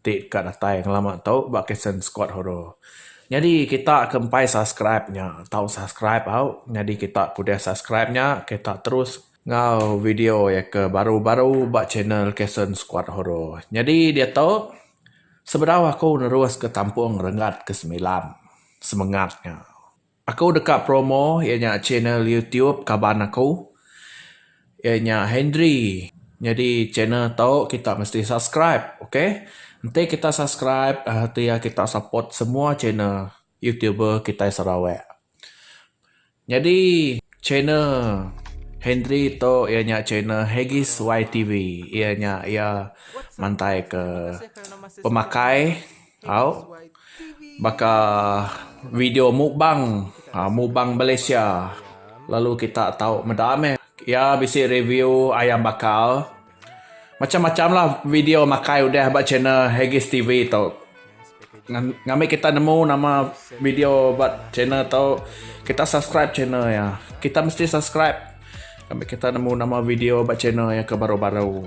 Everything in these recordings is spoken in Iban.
ti deka datai ngelama tu ba Kitson Squad Horror. Nyadi kita ke empai subscribe nya tau subscribe au nyadi kita ke udah subscribe nya kita terus enggau video iya ke baru-baru ba channel Kitson Squad Horror. Nyadi diatu sebedau aku neruska tampung renggat ke semilan semengat nya. Aku deka promo iya nya channel YouTube kaban aku iya nya Hendry nyadi channel tu kita mesti subscribe ok enti kita subscribe tu iya kita support semua channel YouTuber kitai Sarawak nyadi channel Hendry tu iya nya channel Hegis YTV iya nya iya mantai ke pemakai. Au baka video mukbang mukbang Malaysia lalu kita tau meda meh iya bisi review ayam bakar macam-macamlah video makai udah ba channel Haggis TV tu ngambi kita nemu nama video ba channel tu kita subscribe channel iya kita mesti subscribe ngambi kita nemu nama video ba channel iya ke baru-baru.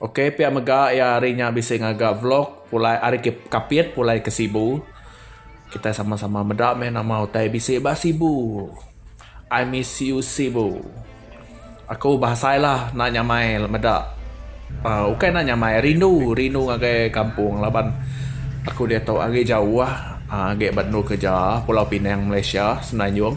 Ok pia mega iya hari nya bisi ngaga vlog pulai ari Kapit pulai ke Sibu. Kitai sama sama meda meh nama utai bisi ba Sibu. I miss you Sibu. Aku bah asai lah enda nyamai meda uhh ukai enda nyamai rindu rindu ngagai kampung laban aku diatu agi jauh uhh agi ba endur kerja Pulau Pinang Malaysia Semenanjung.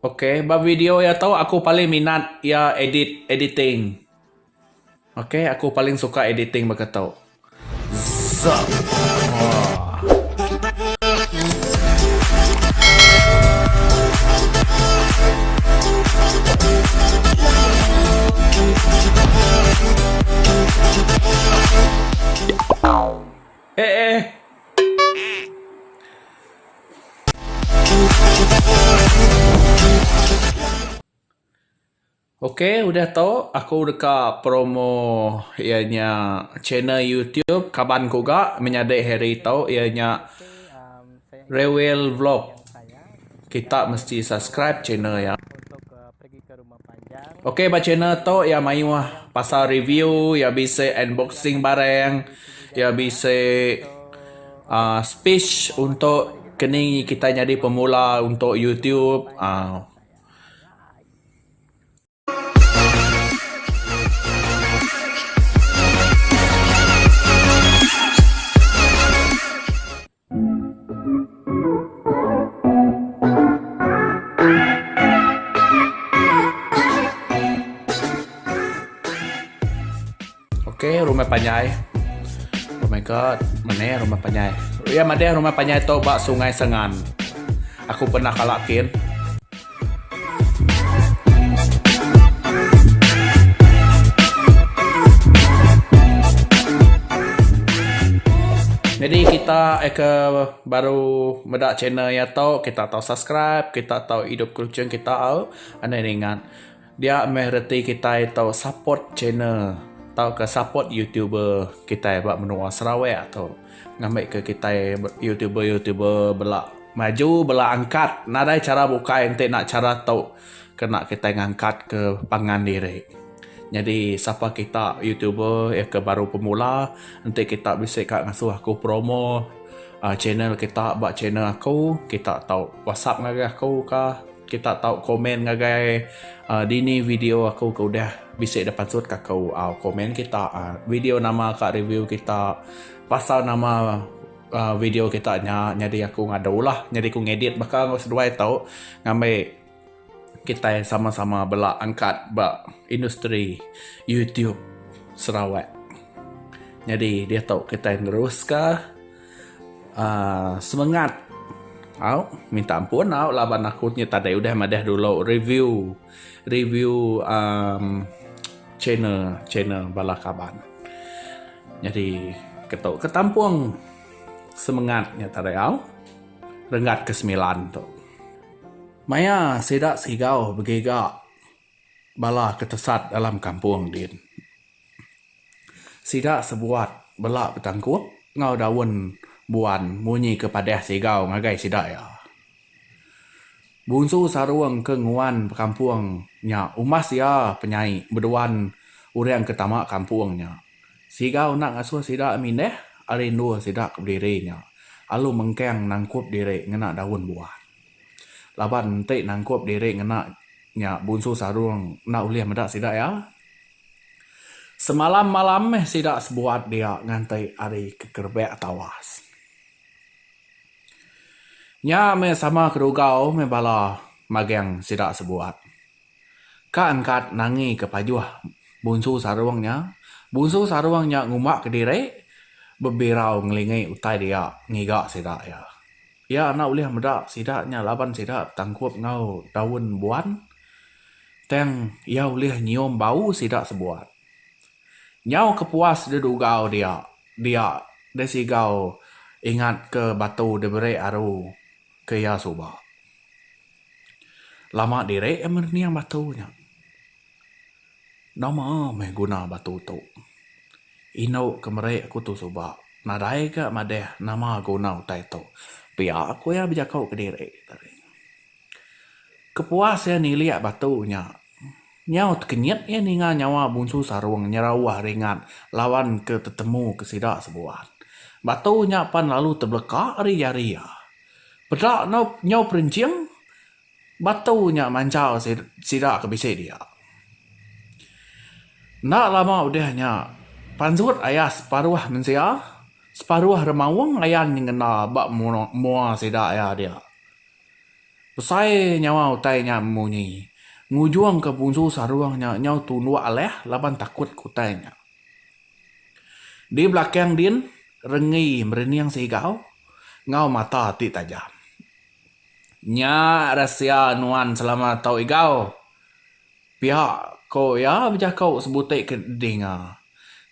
Okay ba video iya tu aku paling minat iya edit editing okay aku paling suka editing baka tu zap aw eh eh. Ok udah tu aku deka promo iya nya channel YouTube kaban ku ga menyadi hari tu iya nya Rewel Vlog. Kita mesti subscribe channel iya. Ok ba channel tu iya mayuh pasal review iya bisi unboxing barang iya bisi aaa speech untuk keni kitai nyadi pemula untuk youtube aaa. Ok rumah panjai oh my god mene rumah panjai iya madeh rumah panjai tu ba sungai sengan aku pernah kala kin. Nyadi kita ke baru meda channel iya tu kita tau subscribe kita tau idup ke luchon kita au anang ringan. Dia meh reti kitai tu support channel tauka support youtuber kitai ba menua Sarawak tu ngambi ke kitai youtuber youtuber bela maju bela angkat nadai chara bukai enti enda chara tu kena kitai ngangkat ke pangan diri nyadi sapa kita youtuber iya ke baru pemula enti kita bisi ka ngasuh aku promo channel kita ba channel aku kita tu whatsapp ngagai aku ka. Kita tau komen ngagai dini video aku ke udah bisi da pansut ka aku komen kita video nama ka review kita pasal nama video kita nya nyadi aku ngadu lah nyadi aku ngedit baka enggau seduai tu ngambi kitai sama sama bala angkat ba industri youtube sarawak nyadi diatu kitai neruska. Uh, semangat. Au, minta ampun au laban aku nya tadi udah madah dulu review review um, channel channel bala kaban. Jadi ketok ketampung semangat nya tadi au renggat ke sembilan tu. Maya sida sigau begiga bala ke tesat dalam kampung din. Sida sebuat bela betangkup enggau daun buan munyi ke padah sigau ngagai sida iya. Bunsu Sarung ke nguan bekampung nya umbas iya penyai beduan orang ke tama kampung nya sigau enda ngasuh sida mindah ari endur sida ke bediri nya alu mengkang nangkup diri ngena daun buan. Laban enti nangkup diri ngena nya Bunsu Sarung enda ulih meda sida iya. Semalam malam meh sida sebuat dia nganti ari kekerebak tawas. Nya meh sama kerugau meh bala magang sida sebuat. Ka engkat nangi ke pajuh Bunsu Sarung nya, Bunsu Sarung nya ngumba ke diri bebirau ngelingi utai dia ngiga sida iya. Iya enda ulih meda sida nya laban sida betangkup enggau daun buan, tang iya ulih nyium bau sida sebuat. Nyau kepuas dedugau dia, dia desigau ingatka batu diberi aru ke iya suba. Lama diri iya merening batu nya. Nama meh guna batu tu. Indu ke meri aku tu suba nadai ga madah nama guna utai tu pia ku iya bejako kediri tadi. Kepuas iya nilik batu nya nyau tekenyit iya ninga nyawa Bunsu Sarung nyerauh ringat lawan ke tetemu ke sida sebuat. Batu nya pan lalu tebeleka ari jari iya. Peda nyau perenjing. Batu nya manjal sida ke bisi dia. Enda lama udah nya, panjut ayah separuh mensia, separuh remaung ayan nyengena ba mua sida iya dia. Besai nyawa utai nya memunyi, ngujungka Bunsu Sarung nya nyau tunduk alah laban takut ke utai nya. Di belakang din, Renggi merening sigau enggau mata ti tajam. Nya rahsia nuan selama tau igau. Pia ko iya bejako sebuti ke dinga.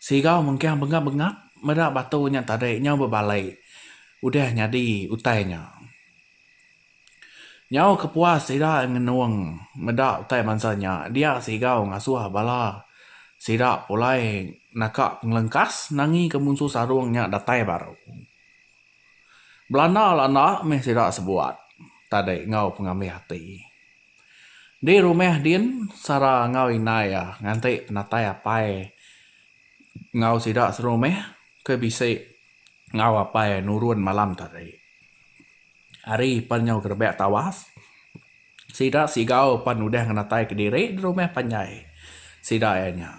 Sigau mengkang bengap-bengap meda batu nya tadi nyau bebalai udah nyadi utai nya. Nyau ke puas sida ngenung meda utai bansa nya dia sigau ngasuh bala sida pulai naka pengelengkas nangi ke munsuh sarung nya datai baru. Belanda la enda mih sida sebuat tadi enggau pengambih ati. Di rumah din Sara enggau indai iya nganti penatai apai enggau sida serumah ke bisi enggau apai nurun malam tadi. Hari pan nyau gerebak tawas. Sida sigau pan udah ngenataika diri di rumah panjai sida iya nya.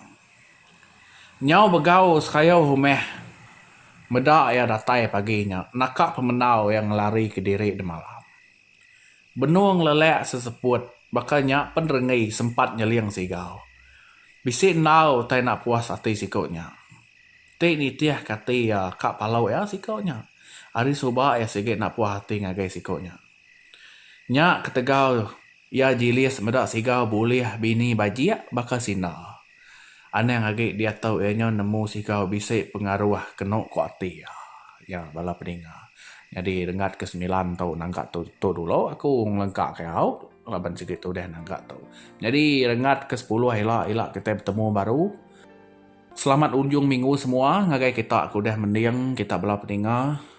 Nyau begau sekayau rumah meda iya datai pagi nya naka pemendau iya ngelarika diri di malam. Benung lelak seseput baka nya pen renggi sempat nyeling sigau. Bisi endau utai enda puas ati siku nya. Ti nitihka ati iya ka palau iya siku nya. Ari suba iya sigi enda puas ati ngagai siku nya. Nya ketegal iya Jilis meda siga bulih bini bajik baka Sina. Anang agi diatu iya nyau nemu siga bisi pengaruh kenu ku ati iya. Nya bala peninga. Nyadi renggat ke semilan tu naga tu tu dulu aku ngelengka ke au laban sigi tudah naga tu. Nyadi renggat ke sepuluh ila ila kitai betemu baru. Selamat unjung minggu semua ngagai kita ke udah mending kita bala peninga.